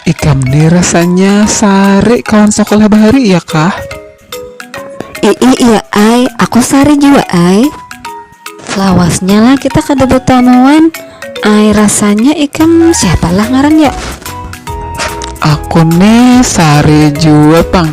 Ikam ni rasanya sarik kawan sakolah bahari iya kah? Iih iya ai, aku sarik jua ai. Lawasnya lah kita kada batamuan ai rasanya ikam siapa lah ngaran ya? Aku ni sarik jua pang.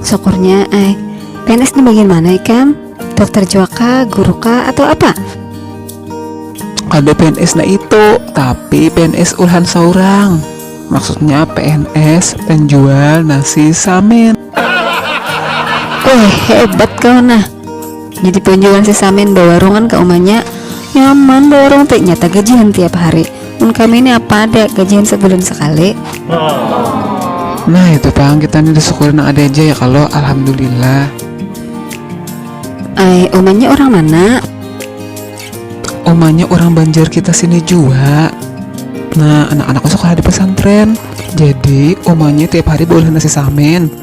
Syukurnya ai. PNS di bagian mana ikam? Dokter jua kah, guru kah, atau apa? Ada PNS na itu, tapi PNS ulhan saurang. Maksudnya PNS penjual nasi samin. Weh, hebat kau nah. Jadi panjuran si Samin bawarungan ka umanya, nyaman bawarung te, nyata gajihan tiap hari. Mun kami ni apa ada, gajihan sabulan sakali. Nah itu pang, kita ni disyukuri nang ada ja ya kalo, alhamdulillah. Ai, umanya urang mana? Umanya urang Banjar kita sini jua. Nah, anak-anakku sekolah di pesantren. Jadi, umanya tiap hari baolah nasi samin.